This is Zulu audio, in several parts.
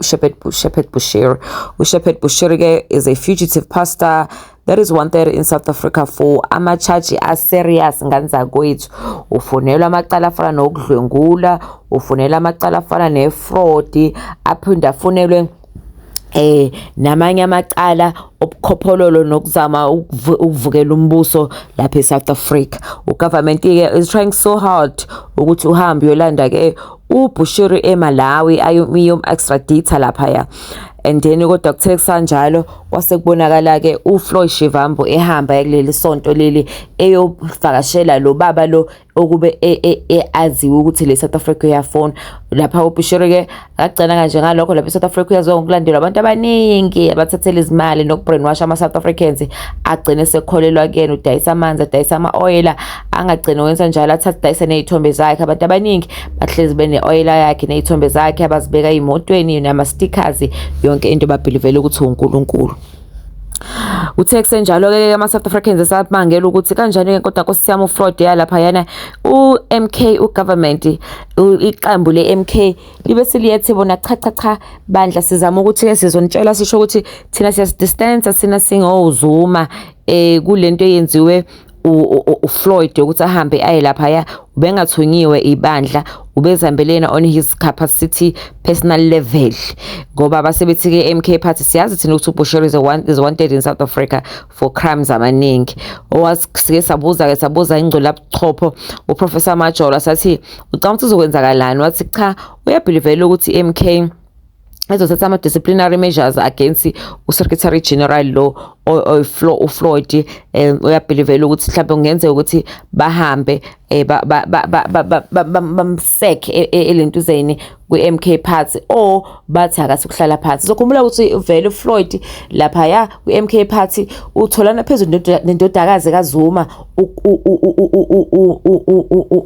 Shepherd, Shepherd Bushiri. UShepherd Bushiri is a fugitive pastor that is wanted in South Africa for amachaji aserious ngani zakwethu ufunelwa amacala afana nokudlwengula ufunelwa amacala afana nefraud aphinde afunelwe eh namanye amacala obukhopholo nokuzama ukuvukela umbuso lapha eSouth Africa ugovernment ke is trying so hard ukuthi uhambe uyolanda ke uBushiri eMalawi ayomiyom extradita laphaya and then kodwa kuthe kusanjalo kwase kubonakala ke uFloyd Shivambu ehamba kuleli sonto leli eyovakashela lo baba lo okube e, e, e, aziwe ukuthi le South Africa uyafona lapha uBushiri ke akagcina kanje ngalokho lapha eSouth Africa uyaziwa ngokulandelwa abantu abaningi abathathela izimali nokubrainwash ama-South Africans agcine sekholelwa kuyena udayisa amanzi adayisa ama-oyela angagcina wenza njalo athathe dayise nezithombe zakhe abantu abaningi bahlezi bene-oyela yakhe nezithombe zakhe abazibeka ey'motweni nama-stickers yonke into babhilivele ukuthi unkulunkulu uthe kusenjalo-ke ama-south africans esamangela ukuthi kanjani-ke kodwa nkosi yami ufraud yalaphayana u-m k ugovernment iqembu le-m k libe siliyethi bona cha cha cha bandla sizama ukuthi-ke sizonitshela sisho ukuthi thina siyasidistansa sina singowuzuma um eh, kule nto eyenziwe uFloyd ukuthi ahambe aye laphaya ubengathunyiwe ibandla ubezihambelena on his capacity personal level ngoba basebethi ke MK party siyazi thina ukuthi uBushiri is, one, is wanted in South Africa for crimes amaningi owasike sabuza ke sabuza ingcwele abuchopho uProfessor Majola sathi ucanga ukuthi uzokwenzakalani wathi cha uyabhilivela ukuthi MK ezothatha ama-disciplinary measures against u-secretary general lo ufloyd um eh, uyabhilivela ukuthi mhlawumbe kungenzeka ukuthi bahambe um bamsek e, e, elentuzeni kwi-m k party or bathi akathi ukuhlala phansi sokhumbula ukuthi vele ufloyd laphaya kwi-m k party utholana phezulu nendodakazi kazuma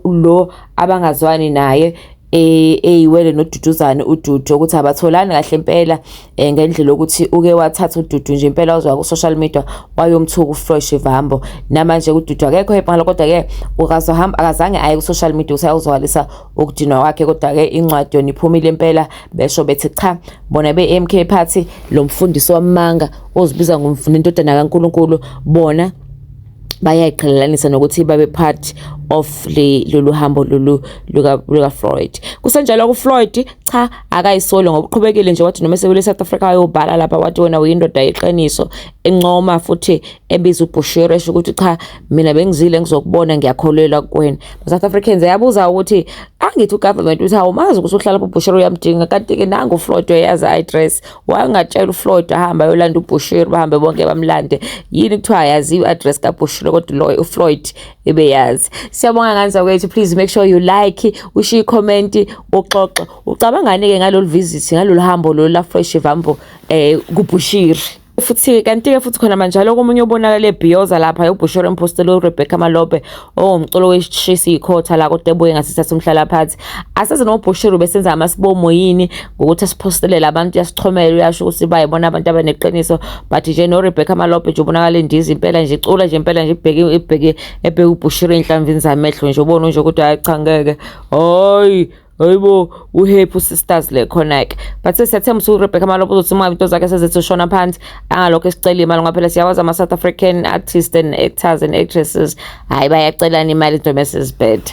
lo abangazwani naye Eh, eyiwele noduduzane ududu ukuthi abatholani kahle impela eh, ngendlela yokuthi uke wathatha ududu nje impela uzwa ku-social media wayomthuka ufresh vambo namanje ududu akekho ebhala kodwa-ke ukazohamba akazange aye ku-social media ukuthi ayozwakalisa ukudinwa kwakhe kodwa-ke incwadi yona iphumile impela besho bethi cha bona be-m k party lo mfundisi wamanga ozibiza ngomfuna indodana kankulunkulu bona bayayiqhelelanisa nokuthi babe part of le lolu hambo lolu luka luka Freud kusenjalo ku Freud cha akayisoli ngokuqhubekile nje wathi noma sebele South Africa ayobhala lapha wathi wena uyindoda yeqiniso encoma futhi ebiza uBushiri esho ukuthi cha mina bengizile ngizokubona ngiyakholelwa kuwena South Africans yabuza ukuthi angithi ugovernment uthi awumazi ukuthi uhlala uBushiri uyamdinga kanti ke nangu Freud uyazi i address wangatshela uFloyd ahamba ayolanda uBushiri bahambe bonke bamlande yini kuthiwa yaziwa i-address kaBushiri kodwa loyo uFloyd ebeyazi siyabonga kanza kwethu please make sure you like ushiye comment uxoxe ucabangani ke ngalolu visit ngalolu hambo lolu la Floyd Shivambo eh kuBushiri futhi kanti-ke futhi khona manjalo komunye obonakale ebhiyoza lapha ubhushore empostela urebecca malope Oh mcolo weshisa ikhotha la kodwa ebuye ngasithatha umhlala phansi. Asazi nobhushuru besenza amasibomo yini ngokuthi asiphostelela abantu yasixhomela uyasho ukuthi bayibona abantu abaneqiniso but nje no Rebecca Malope nje ubonakala indizi impela nje icula nje impela nje ibheke ibheke ebheke ubhushuru enhlamvini zamehlo nje ubona nje ukuthi hayi cha ngeke. Hayi Hayibo uhappy usisters le khona-ke but siyathemba ukuthi urebecca malopo uzothi uma into zakhe sezithi ushona phansi angalokho esicela imali ngoba phela siyawazi ama-south african artists and actors and actresses hhayi bayacelana imali into mesizibheda